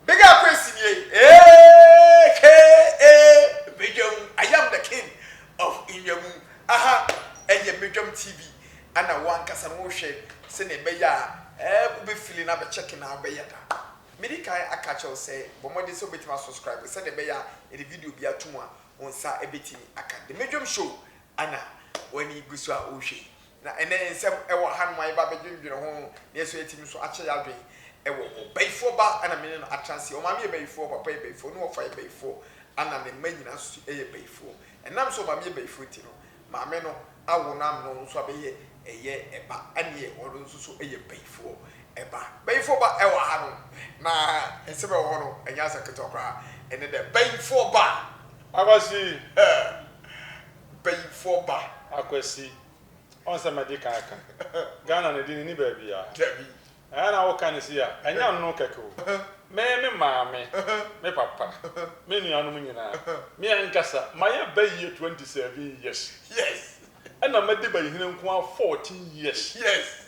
Big up Prince nie AKA Medwam I am the king of Nnwamu Aha ɛyɛ Medwam TV ɛna wo ankasa no wohwɛ sɛnea ɛbɛyɛ a ɛɛ wobɛ fili no abɛ check na wobɛyɛ da Medi kan aka akyerɛ wo sɛ bɔ mmɔden sɛ wobɛtumi a subscribe sɛnea ɛbɛyɛ a yɛde video biara to mu a wo nsa ɛbɛtumi aka The Medwam Show ɛna w'ani gu so a wohwɛ yi Na ɛnnɛ nsɛm wɔ hanom a yɛba bɛdwendwene ho no, nanso ɛtumi nso akyɛ yɛn adwene wɔ hɔ. Bayifoɔ ba na me ne no atra ase. Ɔmaame yɛ bayifoɔ, ɔpapa yɛ bayifoɔ, ne wɔfa yɛ bayifoɔ, ɛna ne mma nyinaa nso yɛ bayifoɔ. Ɛnam sɛ ɔmaame yɛ bayifoɔ nti no, maame no awo no amene ɔno nso abɛyɛ ɛyɛ ɛba, ɛnneɛ ɔno nso so yɛ bayifoɔ ɛba. Bayifoɔ ba wɔ hanom, na nsɛm a ɛwɔ hɔ no, ɛnyɛ asɛm ketewa koraa. Ɛne dɛ, bayifoɔ ba! Akwasi, eh! mpaninfoɔ ba. Akwasi, ɔn sɛ madi kan aka, Ghana ne de ne ni baabia. Dabi. Ɛɛ na wo ka ne sei a, ɛnyɛ anno kɛkɛ o. Me, me maame, me papa, me nuanom nyinaa, me ankasa, mayɛ bayie 27 years. Yes. Ɛna madi bayihene nkoaa 14 years. Yes.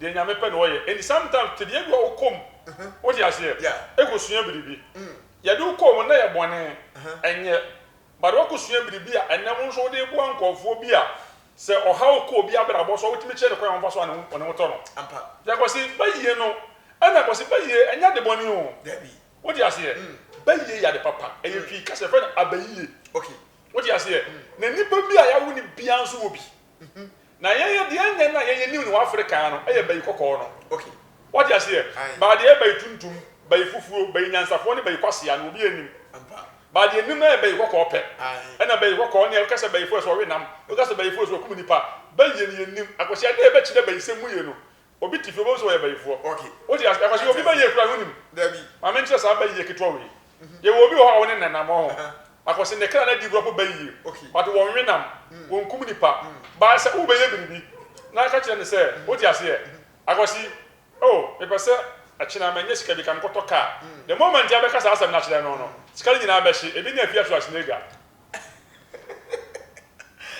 Deɛ Nyame pɛ na ɔyɛ and sometimes tebea bi wɔ hɔ a wo kɔ mu wote aseɛ ɛkɔ sua biribi yɛde wo kɔɔ mu na yɛ bɔne ɛnyɛ but wakɔ sua biribi a ɛnɛ wo nso wode reboa nkorɔfoɔ bi a sɛ ɔhaw kɔ obi abrabɔ so a wotumi kyerɛ no kwan a wɔmfa so a ne ho tɔ no deɛ Kwasi bayie no ɛna Kwasi bayie ɛnyɛ ade bɔne o wote aseɛ bayie yɛ ade papa ɛyɛ Twi kasa yɛfrɛ no abayie wote aseɛ na nipa bi a yɛawo no biara nso wɔ bi Na yɛyɛ deɛ ɛnyɛ na yɛyɛ new no wɔ Africa ha no ɛyɛ bayi kɔkɔɔ no. Wate aseɛ? Baa deɛ ɛyɛ bayi tuntum, bayi fufuo, bayi nyansafoɔ ne bayi kwasea no obiara nnim. Baa deɛ ɛnim no ɛyɛ bayi kɔkɔɔ pɛ. Ɛna bayi kɔkɔɔ no yɛ woka sɛ bayifoɔ yɛ sɛ ɔwe nam, woka sɛ bayifoɔ yɛ sɛ ɔkum nipa. Bayie no yɛnnim. Akwasia dee bɛkyerɛ bayisɛm mu yie no Obi te fie, wobɛhu sɛ ɔyɛ bayifoɔ. Wote aseɛ? Ɛfɔsɛ obi bayie koraa no wonim. Maame nkyerɛ saa bayie ketewa wei. Yɛwɔ obi wɔ hɔ a wone nenam wɔ ho. Akɔse ne kra no adi gua po bayie. But wɔnwe nam, wɔnkum nipa. But sɛ wobɛyɛ biribi na ka kyerɛ no sɛ, wote aseɛ? Akɔse, oh, mepɛ sɛ ɛkyena manya sika bi ka menkɔtɔ car. The moment a bɛka saa asɛm no akyerɛ no no, sika no nyinaa bɛhye. Ebi ne afie aso asenega.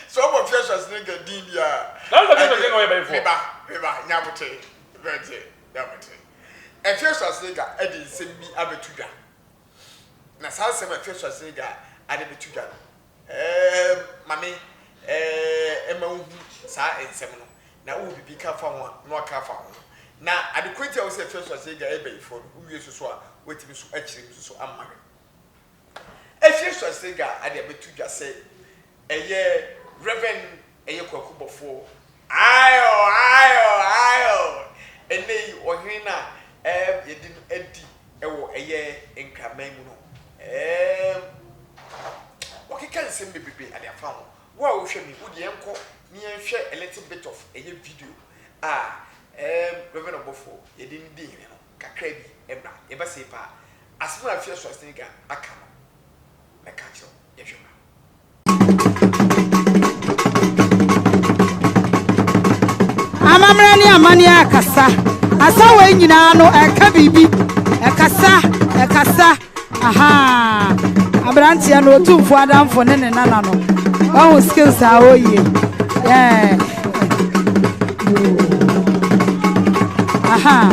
So ɔbɔ fiɛsua sini kɛ din bia. Na ɔbɔ fiɛsua sini kɛ ɔyɛ bɛyifoɔ. Me ba, me ba, nya abote, bɛnte, nya abote. Ɛfiɛsua sini kɛ ɛde nsɛm bi abɛtu dwa. Na saa nsɛm ɛfiɛsua sini kɛ ade bɛtu dwa no, ɛɛ ma me, ɛɛ ɛma wo hu saa nsɛm no. Na wo wɔ biribi ka fa ho a, na wa ka fa ho. Na ade korɔ nti a wo sɛ ɛfiɛsua sini kɛ ɛyɛ bɛyifoɔ no, wo wie so so a, wa tumi so akyerɛ mu so so ama me. Asia Suasega ade abɛto dwa sɛ ɛyɛ Rev. Ɛyɛ Kwaku Bɔfoɔ. Aayɔ! Aayɔ! Aayɔ! Ɛnnɛ yi ɔhene no a ɛɛm yɛde no adi wɔ ɛyɛ Nkraman mu no ɛɛm wakeka nsɛm bebrebe ade afa ho. Wo a wohwɛ me yi, wo deɛ yɛnkɔ na yɛnhwɛ a little bit of ɛyɛ video a ɛɛm Rev. Ɔbɔfoɔ yɛde no dii hene no. kakra bi mmra. Yɛba sei paa, asem a Afia Schwarzenegger aka no mɛka akyerɛ wo. Yɛhwɛ mmra. Amammerɛ ne amanneɛ akasa. Asa wei nyinaa no ɛka biribi. Ɛkasa, ɛkasa. Ahaa abranteɛ no otumfo adamfo ne ne nana no wahu skills a ɔyie yeah. Aha.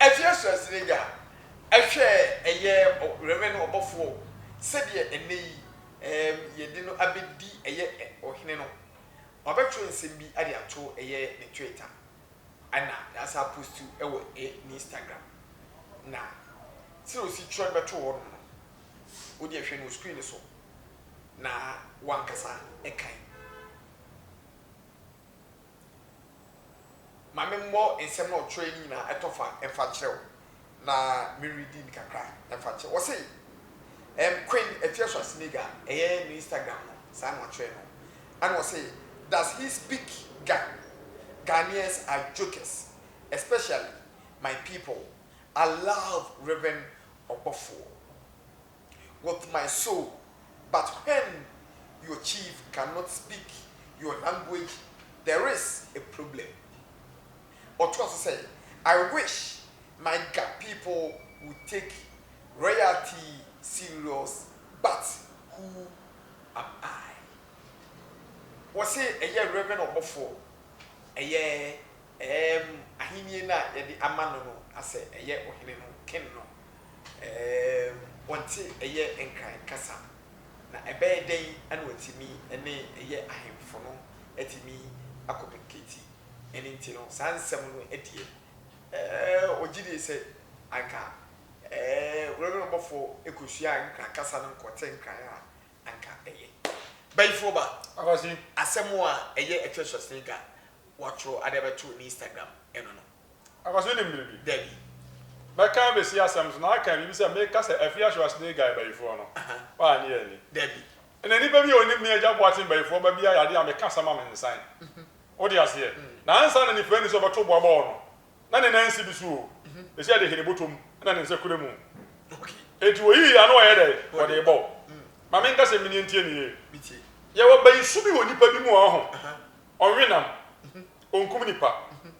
Ɛfiri asoɛsere agya ɛhwɛ ɛyɛ ɔwɛrɛ no ɔbɔfoɔ sɛdeɛ ɛnnɛ yi yɛde no abɛdi ɛyɛ ɔhene no wabɛtwerɛ nsɛm bi de ato ɛyɛ ne twita ɛna yɛasan apostu ɛwɔ ne instagram na sɛdeɛ ɔsi twerɛ no bɛto hɔ nom no wodeɛ hwɛ no wɔ screen no so na w'ankasa kan. Ma me mmɔ nsɛm na ɔtwerɛɛ no nyinaa ɛtɔ fa mfa nkyerɛ wo na me readi no kakra mfa nkyerɛ wo. Ɔse ɛɛm Queen Effiasu Asimiga ɛyɛ ne Instagram no saa na ɔtwerɛɛ no ɛna ɔse does he speak Ga? Ghanaians are jokers especially my people I love Rev Ɔbɔfoɔ. With my soul but when your chief cannot speak your language there is a problem. Ɔtoa so sɛ, I wish my Ga people would take royalty serious but who am I? Wɔse ɛyɛ Reverend ɔbɔfoɔ, ɛyɛ ɛɛm ahennie no a yɛde ama no no asɛ ɛyɛ ɔhene no, king no, Ɛɛm, wɔnte ɛyɛ Nkran kasa. Na ɛbɛyɛ dɛn na wɔatumi ne ɛyɛ ahemfo no atumi akɔminikati? Ɛno nti no, saa nsɛm no deɛ, ɛɛ, wɔgye die sɛ anka, ɛɛ, Wurayuram bɔfoɔ kɔsuaa Nkran kasa no kɔte Nkran a anka ɛyɛ. Bayifoɔ ba, asɛm a ɛyɛ ɛtwerɛ sɔsene dwa, wɔatwerɛ ade abɛto ne Instagram no no. Akwaso wonim biribi? Dabi. Mɛka abɛsi asɛm so na aka biribi sɛ meka sɛ Afie Ashoas ne Guy bayifoɔ no. Woannye anni. Dabi. Ɛna nnipa bi a wɔnim me Agya Boateng bayifoɔ ba bi ayɛ adeɛ a meka asɛm ma mensan. Wote aseɛ? Na ansa na nifirani sɛ ɔbɛto boa bɔɔl no, na ne nan si bi so o, ɛsei ɛde he ne bɔtɔ mu na ne nsa kura mu. Enti wɔyii ano ɔyɛ dɛn? Wɔde rebɔ wo. Ma menka sɛ meneɛ ntie me yie. Yɛwɔ bayisu bi wɔ nnipa bi mu a, ɔho, ɔnwe nam, ɔnkum nnipa.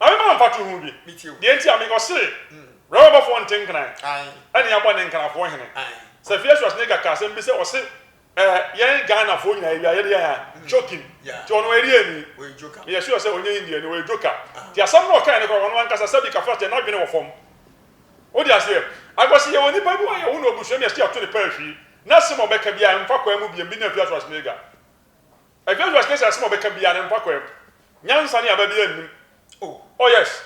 Maame maa mfatoho bi, deɛ nti a me ɔse Roma bɔfoɔ nte nkran ɛne abɔ ne nkrafoɔ hene. Safia Schwarzenegger kaa asɛm bi sɛ ɔse ɛɛ yɛn Ghana foɔ nyinaa ɛwia yɛde yɛn a joking nti ɔno ɛdeɛ ni me yɛ sure sɛ ɔnyɛ Indian ni ɔyɛ joker nti asɛm no ɔkae no koraa ɔno ankasa sɛbi kafra kyɛ n'adwene wɔ fam wode aseɛ akɔse yɛwɔ nipa bi wɔ yɛwo no abusua mi ɛste ato ne paa hwii n'asɛm a ɔbɛka biaa mfa kwaa mu biam bi ne Afia Schwarzenegger. Ɛdɛ Josh ne sɛ asɛm a ɔbɛka biaa ne mpa kwaa mu nyansa ne aba biaa nnim oh oh yes.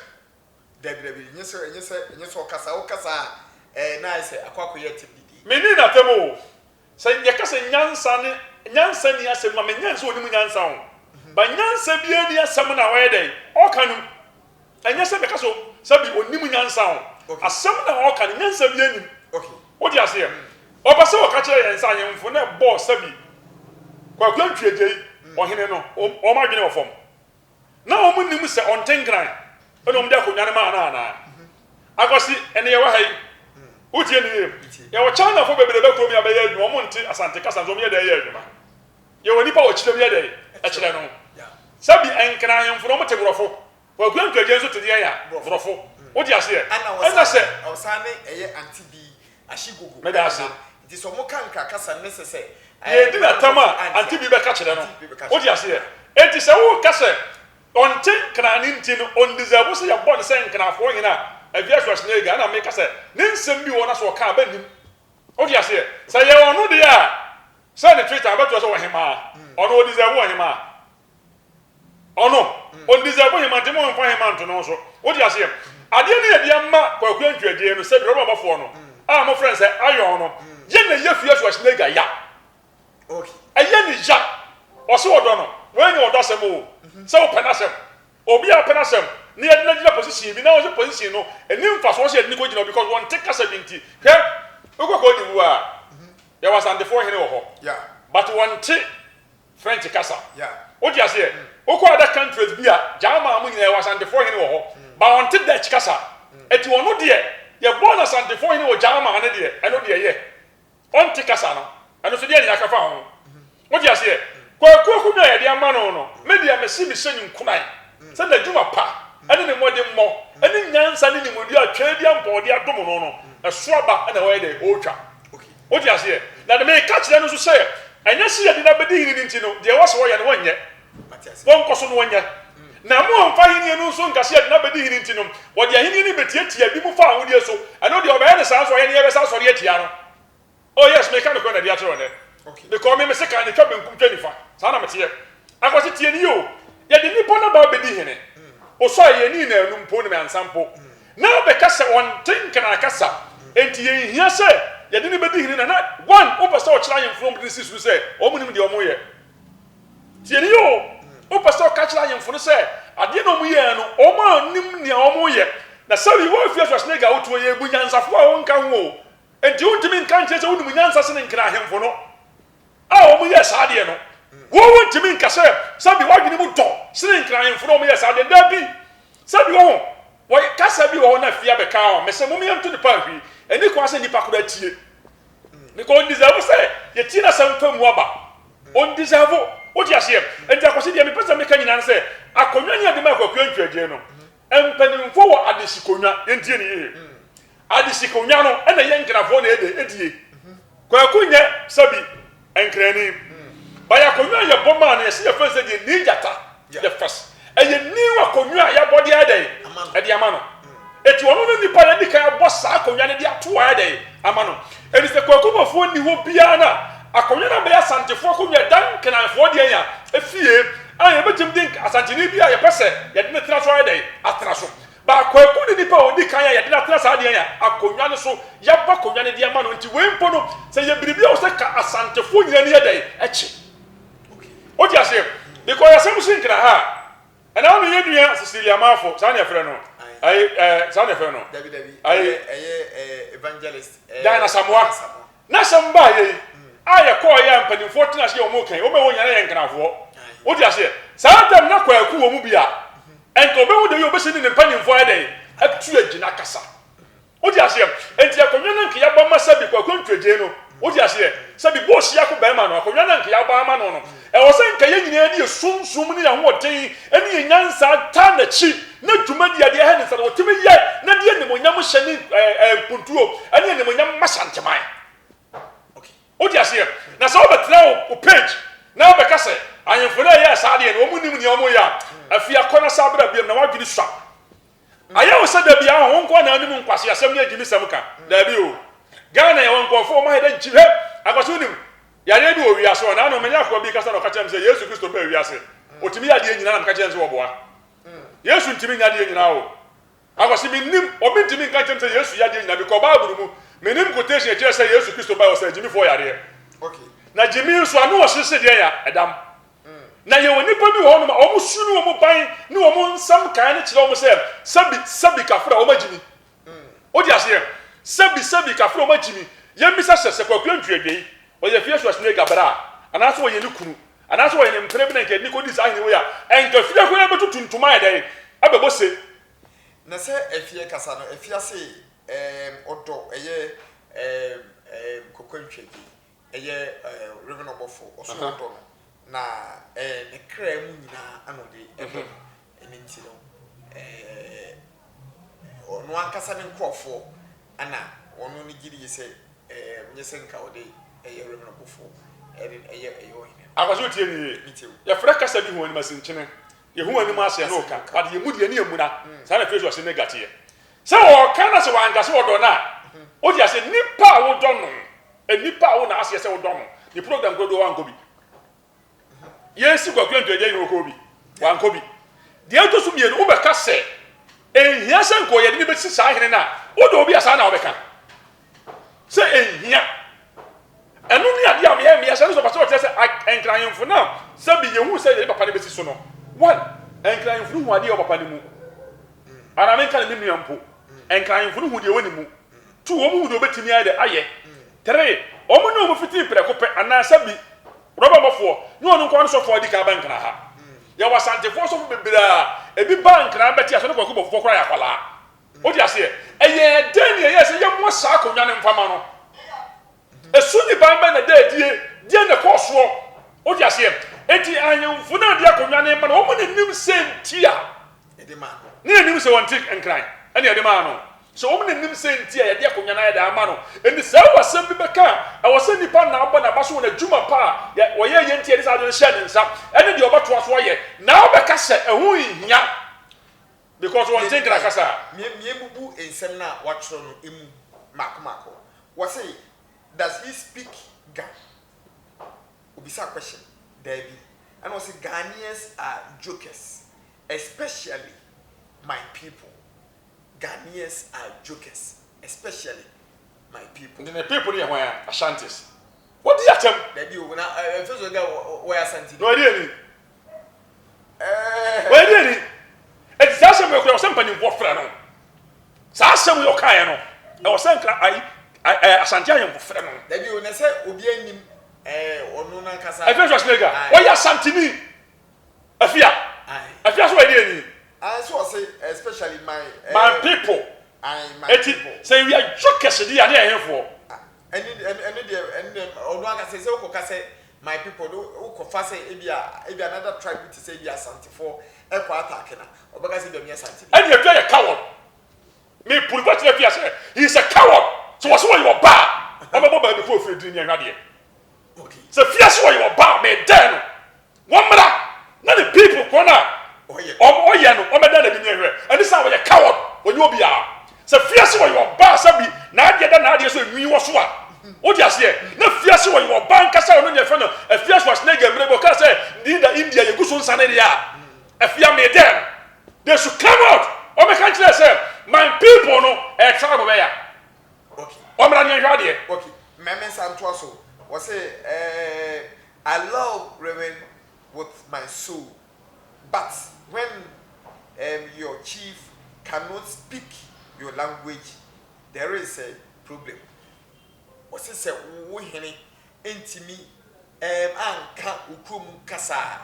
Dabi dabi ɛnyɛ sɛ ɛnyɛ sɛ ɛnyɛ sɛ ɔkasa ɔkasa a ɛɛ na ayɛ sɛ akɔ akɔyɛ atem didi. Me nni natam oh sɛ yɛka sɛ nyansa ne nyansa nni asɛm ma me nyɛ nsɛ ɔnim nyansa oh but nyansa biaa nni asɛm na ɔyɛ dɛn ɔka no mu. Ɛnyɛ sɛ meka so sɛ bi ɔnnim nyansa o, asɛm na ɔreka no, nyansa biara nnim. Wote aseɛ? Ɔpɛ sɛ ɔka kyerɛ yɛn sɛ ahemfo no ɛbɔ sɛ bi Kwaku Antwi Agyei, ɔhene no, wɔn adwene wɔ fam. Na wɔn nnim sɛ ɔnte nkran na wɔn de akonnwa no maa no anaa? Akwasi, ɛne yɛwɔ ha yi, wotie no yie? Yɛwɔ Chinafoɔ bebree ba kurom yi a bɛyɛ adwuma, wɔn nte Asante kasa nso wɔn yɛ dɛn yɛ adwuma? Yɛwɔ nnipa wɔ kyerɛ mu yɛ dɛn ɛkyerɛ no sɛ bi nkran ahemfo no wɔte borɔfo kwaku ankragye nso te deɛn a borɔfo wote aseɛ ɛna sɛ ɔsan ne ɛyɛ ante bi ahye gugu meda ase nti sɛ ɔmo ka nkra kasa ne sɛ sɛ yɛ di na tam a ante bi bɛka kyerɛ no wote aseɛ nti sɛ wo ka sɛ ɔnte nkran ne nti no ɔndizɛbo sɛ yɛbɔ ne sɛ nkranfoɔ hene a ɛvia Schwarzenegger ɛna meka sɛ ne nsɛm bi wɔ na sɛ ɔka a bɛ nim wote aseɛ sɛ yɛ ɔno deɛ a Sɛ ne tweet a ɔbɛtoa sɛ ɔhemaa ɔno ɔdisɛvu ɔhemaa ɔno ɔndisɛvu hemaa nti mo nfa hemaa nto ne ho so wote aseɛ adeɛ no yɛde ama kwakuo ntweɛdeɛ no sɛ dwerɛ bɔ bɔfoɔ no a mo frɛ sɛ ayɔn no yɛ na yɛ fie so ahyina ga ya ɛyɛ ne ya ɔse ɔdɔ no wɔnyɛ ɔdɔ asɛm o sɛ wopɛ no asɛm obi a pɛ no asɛm na yɛde no agyina position bi na ɔsɛ position no ɛni mfa so ɔsɛ yɛde no kɔgyina because wɔnte kasa bi nti hwɛ wokɔkɔ ɔde wu a Yɛwɔ Asantefoɔ hene wɔ hɔ but wɔnte French kasa. Wote aseɛ? Wokɔ other countries bi a German mo nyinaa yɛwɔ Asantefoɔ hene wɔ hɔ but wɔnte Dutch kasa. Ɛti ɔno deɛ yɛbɔɔ no Asantefoɔ hene wɔ German no deɛ ɛno deɛ yɛ. Ɔnte kasa no. Ɛno nso deɛ ne akafa ho. Mote aseɛ? Kwaku akonnwa a yɛde ama no no, me deɛ mese mehyɛ no nkuran sɛ n'adwuma pa ne ne mmɔdemmɔ ne nyansa ne nimɔdie a Twaa di ampa a ɔde adom no no, ɛso aba na ɔyɛ dɛn? Ɔretwa. Wote aseɛ? Na deɛ meka kyerɛ no nso sɛ, ɛnyɛ sɛ yɛde no abɛdi hene no nti no, deɛ ɛwɔ sɛ ɔyɛ no, ɔnyɛ. Ɔnkɔ so na ɔnyɛ. Na mommfa ahennie no nso nka sɛ yɛde no abɛdi hene nti no, ɔde ahennie no rebɛtiatia binom fa ahodeɛ so. Ɛno deɛ, ɔbɛyɛ no saa nso, ɔyɛ no, yɛbɛsan asɔre atia no. Oh yes, meka nokorɛ na ɛde akyerɛ wo nnɛ. Mekɔɔ me me sekan de twa benkum twa nifa, saa na meteɛ. Akwasi tie nie o, yɛde nipa no ba bɛdi hene, osɔ a yɛnni no anum mpo ne me ansa mpo, na ɔbɛka sɛ ɔnte nkanaa kasa, enti yɛnhia sɛ yɛde no bɛdi hene na na one wopɛ sɛ ɔkyerɛ ahenfo no a wɔde no si so no sɛ wɔn nim deɛ wɔn yɛ. Tie nie o, wopɛ sɛ ɔka kyerɛ ahenfo no sɛ adeɛ na wɔn yɛɛ no wɔn a wɔnim nea wɔn yɛ, na sɛwi woafia Schwarzenegger a wotoɔ yi, bu nyansafoɔ a wonka ho o, Enti wontumi nka nkyerɛ sɛ wonim nyansa sene Nkran ahemfo no a wɔyɛɛ saa adeɛ no. Wo wontumi nka sɛ sɛbi w'adwene mu dɔ sene Nkran ahemfo no a wɔyɛɛ saa adeɛ no. Dabi! Sɛbi wɔ ho. Wɔ kasa bi wɔ hɔ na fie abɛka ho. Mese mom yɛnto ne paa nhwi. Ɛnni kwan sɛ nnipa koraa tie. Because ɔndisavu sɛ yɛtie n'asɛm fa mu aba. Ɔndisavu. Wote aseɛ? Enti Akwasi deɛ mepɛ sɛ meka nyinaa ne sɛ, akonnwa ne yɛde maa Kwaku Antwi Adjei no, Mpaninfoɔ wɔ adehyekonwa, yɛntie no yie, adehyekonwa no na yɛ nkrafoɔ na yɛdɛ ɛdie. Kwaku nyɛ sɛbi nkrani, bayɛ akonwa a yɛbɔ maa no yɛse yɛfrɛ no sɛ deɛ Nii Gyata, the first, ɛyɛ new akonwa a yɛabɔ de ayɛ dɛ ɛde ama no, ɛti ɔno ne nipa a yɛdikan abɔ saa akonwa no de ato ayɛ dɛ ama no. Ɛfiri sɛ Kwaku Boafo nni hɔ biara no a, akonnwa no abɛyɛ Asantefoɔ akonnwa, Dan Nkenanfoɔ deɛ nya fie a yɛbɛtumi de Asanteni bi a yɛpɛ sɛ yɛde no tena so ayɛ dɛn? Atena so. But Kwaku ne nipa a ɔdi kan a yɛde no atena saa deɛ nya akonnwa no so, yɛabɔ akonnwa no de ama no, nti wei mpo no sɛ yɛ biribi a wɔ sɛ ka Asantefoɔ nyinaa ani yɛ dɛn? Kye. Wote aseɛ? Because asɛm si nkena ha a. Ɛna wo ne yɛn nua Cecilia Marfo, saa na yɛfrɛ no, ɛɛ, ɛɛ, saa na yɛfrɛ no, Dabi, dabi, ɛɛ, ɛyɛ, ɛyɛ, ɛɛ, Evangelist, ɛɛ, Diana Asamoah, Diana Asamoah. n'asɛm baeɛ yi, a yɛkɔɔ yɛ a mpanimfoɔ tenaa ase yɛ wɔn kan, wɔn a wɔwɔ nyinaa na yɛ Nkranfoɔ. Wo te aseɛ? Saa da no na Kwaku wɔ mu bi a, nka ɔbɛhu da yi a ɔbɛsi ne ne mpanimfoɔ ayɛ dɛn, atu agyina akasa. Wo te aseɛ? Enti akonnwa no a nka yɛabɔ ama Sabi Kwaku Antwiagyei no, wo te aseɛ? Sabi bɔɔ Siako barima no, akonnwa no a nka yɛabɔ ama no no, ɛwɔ sɛ nka yɛn nyinaa de yɛn sunsum ne yɛn ahoɔden ne yɛn nyansa taa n'akyi, na dwumadie a deɛ ɛha ne nsa no wɔtumi yɛ, na de animuonyam hyɛ ne mpuntuo ne animuonyam ma Shanteman. Wo te aseɛ? Na sɛ wobɛtena wo, wo page na wobɛka sɛ ahemfo no a ɛyɛɛ saa adeɛ no, wɔn nnim nea wɔreyɛ a, afei akɔ na san bra biom na w'adwene sua. Ayɛ wo sɛ da biaa hɔn nkoa na ɔnye mu nkwaseasɛm nye gyimisɛm ka? Daabi o. Ghana yɛwɔ nkorɔfo a wɔma yɛda gyigyi. Hwɛ! Akwaso wonim yareɛ bi wɔ wiase hɔ. Naano menye akoa bi rekasa na ɔka kyerɛɛ me sɛ Yesu Kristo baa wiase. Otumi yɛ adeɛ nyinaa na meka kyerɛɛ no sɛ wɔboa. Yesu ntumi nyɛ adeɛ nyinaa o. Akwaso mennim. Obi ntumi nka nkyerɛ me sɛ Yesu yɛ adeɛ nyinaa. Mekɔ Bible mu. Mennim quotation a ɛkyerɛ sɛ Yesu Kristo bae ɔsaa gyimifoɔ yareɛ. Na gyimi nso ano ɔhyehye deɛn a? Ɛdam. Na yɛwɔ nnipa bi wɔ hɔnom a wɔsum wɔn ban ne wɔn nsɛm nkaeɛ no kyerɛ wɔn sɛ, Sɛbi, sɛbi, kafra, wɔagye me. Wode aseɛ? Sɛbi, sɛbi, kafra, wɔagye me. Yɛmmisa sɛ, sɛ Kwaku Antwi Agyei, ɔyɛ Fiasua Suega bra a, anaasɛ ɔyɛ ne kunu, anaasɛ ɔyɛ ne mpena bi na nka yɛde no kɔdii saa ahene wei a, ɛnka fie koraa bɛtutu ntoma ayɛ dɛn? Abɛbɔ se. Na sɛ afie ankasa no afi ase ɛɛm ɔdɔ ɛyɛ ɛɛm ɛɛm Kwaku Antwi Agyei. ɛyɛ Reverend Ɔbɔfo Ɔsoro ɔdɔ no, na ɛɛ ne kra mu nyinaa na ɔde ɛbɔ no. Ɛno nti no, ɛɛ ɔno ankasa ne nkorɔfoɔ na wɔn no gye die sɛ ɛɛ nyɛ sɛ nka ɔde ɛyɛ Reverend Ɔbɔfo ɛde ɛyɛ ɛyɛ ɔhene no. Akwasi otie me yie. Metie wo. Yɛfrɛ kasa bi hoanimasinkyene. Yɛhu anim aseɛ na ɔka, but yɛn mu deɛ ne yɛmmuna. Saa na Fasuo Asennegya teɛ. Sɛ ɔɔka na sɛ ɔannka sɛ ɔdɔ no a, otsi ase nyimpa a wodɔ no, nyimpa a wo na aseɛ sɛ wodɔ no, ne program kodoɔ wankɔ bi. Yɛresi Kwaku Antwi Agyei no ɔkɔɔ bi? Wankɔ bi. Deɛ ɛtɔ so mmienu, wobɛka sɛ ɛnhia sɛ nka ɔyɛ de na ɛbɛsi saa hene no a, wodɔ obi a saa na wobɛka? sɛ enhia. Ɛno ne adeɛ a meyɛ meyɛ hyɛ no sɛ ɔpɛ sɛ ɔkyerɛ sɛ a Nkran Ahemfo no a sɛbi yɛhuu sɛ yɛde papa no bɛsi so no, one, Nkran Ahemfo no hu adeɛ a ɛwɔ papa no mu. Anaa menka no me nua mpo, Nkran Ahemfo no hu deɛ ɛwɔ ne mu. Two, wɔn hu deɛ wɔbɛtumi ayɛ dɛ ayɛ. Three, wɔn ne wɔn fitii prɛko pɛ anaa sɛbi rɔba bɔfoɔ nyɛ ɔno nko ara ne sɔfoɔ a ɔdi kan aba Nkran ha. Yɛwɔ Asantefoɔ sɔfo bebree a ebi baa Nkran bɛte ase, ɔne Kwaku Bɔfoɔ koraa yɛ akwadaa. Wote aseɛ? Ɛyɛ dɛn ne ɛyɛɛ sɛ yɛmmoa saa akonnwa no mfa ma no? Ɛso nniban bɛn na ɛda adie? Deɛn na ɛkɔɔ soɔ? Wote aseɛ? Enti ahemfo no a ɛde akonnwa no rema no, wɔn na nim sɛ nti a ne yɛnim sɛ wɔnte nkran ɛne ɛde maa no. So wɔn na nim sɛ nti a yɛde akonnwa no ayɛ dɛn ama no? Enti sɛ ɛwɔ asɛm bi bɛka a, ɛwɔ sɛ nipa na abɔ n'aba so wɔ n'adwuma pa a ɔyɛɛ yɛ nti a yɛde saa ade no hyɛɛ ne nsa ɛne deɛ ɔbɛtoa so ayɛ. Na wobɛka sɛ ɛho nhia. Because wɔn nte nkra kasa a. Mie mie bubu nsɛm no a wɔatwerɛ no mu maako maako. Wɔse does he speak Ga? Obisaa question, daabi. Ɛna ɔse Ghanaians are jokers especially my people. Ghanaians are jokers especially my people. Nti ne people no yɛ hwan a? Ashantis. Wodi atɛm. Daabi o, na ɛmfiri so sɛ Ga wɔyɛ Asantini. Noaduani. wɔyɛ deɛ ni ɛti saa asɛm yɛ kura ɔsɛ mpanyinfoɔ frɛ no saa asɛm yɛ ɔka yɛ no ɛwɔ sɛ nkra ayi ɛɛ asante ahemfo frɛ no. dabi o na sɛ obi anim ɛɛ ɔno nankasa. ɛfɛ sɔ sinega wɔyɛ asantini afia afia so wɔyɛ deɛ ni. ayi so ɔsɛ especially my. Eh, my people. ayi my eti, people eti sɛ ewia dwo kɛse di yɛ ne yɛ henfoɔ. ɛni ɛni deɛ ɛni deɛ ɔno ankasa sɛ ɔkɔ kasɛ My people no wokɔ fa sɛ ebia ebia another tribe bi te sɛ ebia asantefoɔ ɛkɔ attack na ɔbɛka sɛ ebia meyɛ asanteni. Ɛne adua yɛ coward me puri fa kyerɛ fia sɛ he is a coward sɛ wɔse wɔyɛ ɔba a wɔbɛbɔ baa bi kɔ ofiri adini ne ahwadeɛ sɛ fia sɛ wɔyɛ ɔba a me dɛn no wɔmmra na ne people korɔ no a ɔyɛ no wɔbɛdɛn no adini ɛhwɛ ɛne saa wɔyɛ coward wɔnyɛ obiara Sɛ fiase ɔyɛ ɔbaa sɛ bi n'adeɛ da n'adeɛ so enwii wɔ so a, wode aseɛ? Na fiase ɔyɛ ɔbaa ankasa ɔno deɛ fɛ no afia Schwarzenegger mmerɛ bi ɔkaa sɛ Linda India yɛgu so nsa ne deɛ a afia me dɛɛ no they should come out ɔmɛka nkyerɛ sɛ my people no ɛyɛ tribe bɛya ɔmmra ne yɛnhwɛ adeɛ. Okay, mɛme nsa ntoa so, wɔse ɛɛɛ I love Reverend with my soul. but when um your chief cannot speak your language there is a problem wɔse sɛ wo hene ntimi um anka wo kuro mu kasa a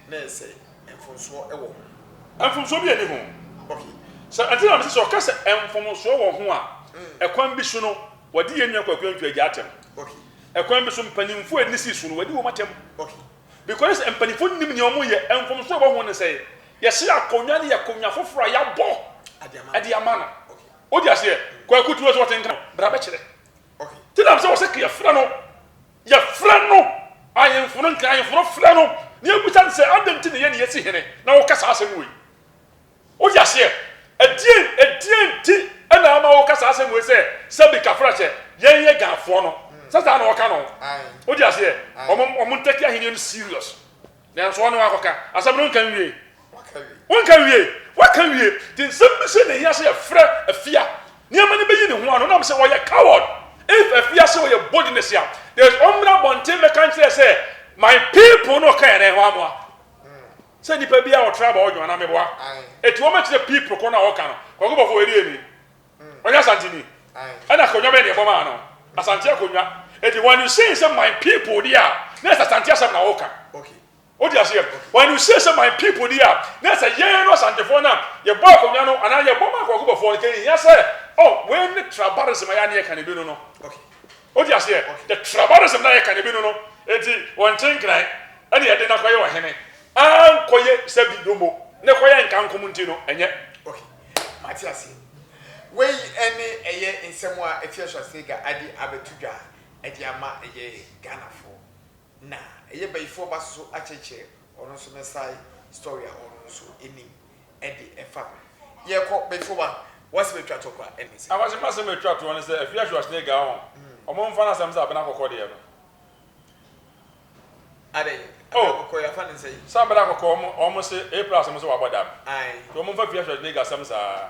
na ɛyɛ sɛ mfomsoɔ wɔ ho. Mfomsoɔ biara nni ho. Okay. Sɛ ɛnti na mese sɛ ɔka sɛ mfomsoɔ wɔ ho a ɛkwan bi so no wɔde yɛn nua Kwaku Antwi agya atɛm. Okay. Ɛkwan bi so mpanimfoɔ a ɛnni si so no wɔadi wɔn atɛm. Okay. Because mpanyinfo nnim nea wɔn yɛ, mfomso a ɛwɔ ho ne sɛ yɛsrɛ akonnwa no yɛ akonnwa foforo a yɛabɔ de ama no. Wode aseɛ? Kwaku tuo sɛ ɔte nka no, bra bɛkyerɛ. Ti nam sɛ wɔ sɛ ka yɛfrɛ no, yɛfrɛ no, ahenfo no nka, ahenfo no frɛ no, na yɛbisa no sɛ adɛn nti na yɛn na yɛsi hene na woka saa asɛm wei. Wote aseɛ? Ɛdeɛn, ɛdeɛn nti na ama woka saa asɛm wei sɛ, sɛbi kafra sɛ, yɛn yɛ Ghanfoɔ no? Sɛ saa na wɔka no ho. Wote aseɛ? Wɔn, wɔn ntɛke ahennie no serious. Nanso wɔn na wɔakɔka. Asɛm no nka nwie. Wonka nwie. Woaka nwie. Nti nsɛm bi sei na ɛhia sɛ yɛfrɛ Afia. Nneɛma no bɛyi ne ho ano. Nam sɛ ɔyɛ coward. If Afia sɛ ɔyɛ boldness a, there is, ɔmmra abɔnten mmɛka nkyerɛ yɛ sɛ, my people na ɔka yɛn, na yɛn hɔ amoa. Sɛ nipa biaa ɔtra aba ɔdwo anaa meboa ɛti wɔma kyerɛ people koro no a wɔka no Kwaku Bɔfoɔ ɔyɛ deɛ ni? Ɔyɛ Asanteni? Ɛna akonnwa bɛn deɛ bɔmaa no? Asante akonnwa Ɛti when you say sɛ my people deɛ a na ɛsɛ Asante asɛm na woka Wote aseɛ? When you say sɛ my people deɛ a na ɛsɛ yɛn no Asantefoɔ no a yɛbɔ akonnwa no anaa yɛbɔ maa Kwaku Bɔfoɔ no kɛnhia sɛ oh wei ne tra barism a yɛ a na yɛka no bi no no Wote aseɛ? The tribalism no a yɛka no, ebinom no, enti wɔnte nkran, ɛna yɛde no akɔyɛ ɔhene. Ankɔyɛ sɛ bi domo, na ɛkɔyɛ nkankom nti no, ɛnyɛ. Okay, mate aseɛ. Wei ne ɛyɛ nsɛm a Atua Schwarzenegger ade abɛto dwa de ama ɛyɛ Ghanafoɔ. Na ɛyɛ bayifoɔ ba soso akyerɛkyerɛ ɔno nso ne side story a ɔno nso nim de ɛfa ho. Yɛkɔ bayifoɔ ba w'asɛm a ɛtwa toɔ koraa ɛne sɛ. Akwasi m'asɛm a ɛtwa toɔ ne sɛ afie ahwe ɔsene ga ho ɔmo nfa no asɛm sɛ abena kɔkɔɔ deɛ no. Adɛn abena kɔkɔɔ yɛafa no sɛn. Sɛ abena kɔkɔɔ ɔmo se A plus ɔmo se wabɔ dam nti ɔmo nfa afie ahwe ɔsene ga asɛm saa.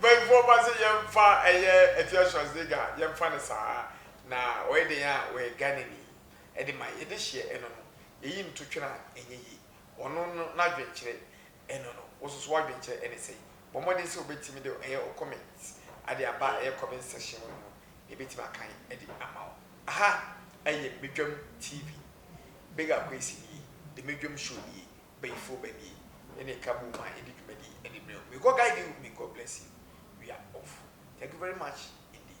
Bɛnfoɔ ba sɛ yɛmfa ɛyɛ Atua Schwarzenegger yɛmfa no saa na ɔyɛ dɛn a ɔyɛ Ghanani ɛde ma yɛde hyeɛ ɛno no yɛyi no to twene a ɛnyɛ yie ɔno no n'adwenkyerɛ Ɛno no, wo nso so w'adwenkyerɛ ne sɛn? Bɔ mmɔden sɛ wobɛtumi de ɛyɛ wo comment ade aba ɛyɛ comment section mu no mu na yɛbɛtumi akan de ama wo. Aha ɛyɛ Medwam TV. Big Akwasi nie. The Medwam Show nie. Bayifoɔ ba nie. Yɛne ɛka boom a yɛde dwumadie de brɛ wo. May God guide you, may God bless you. We are off. Thank you very much indeed.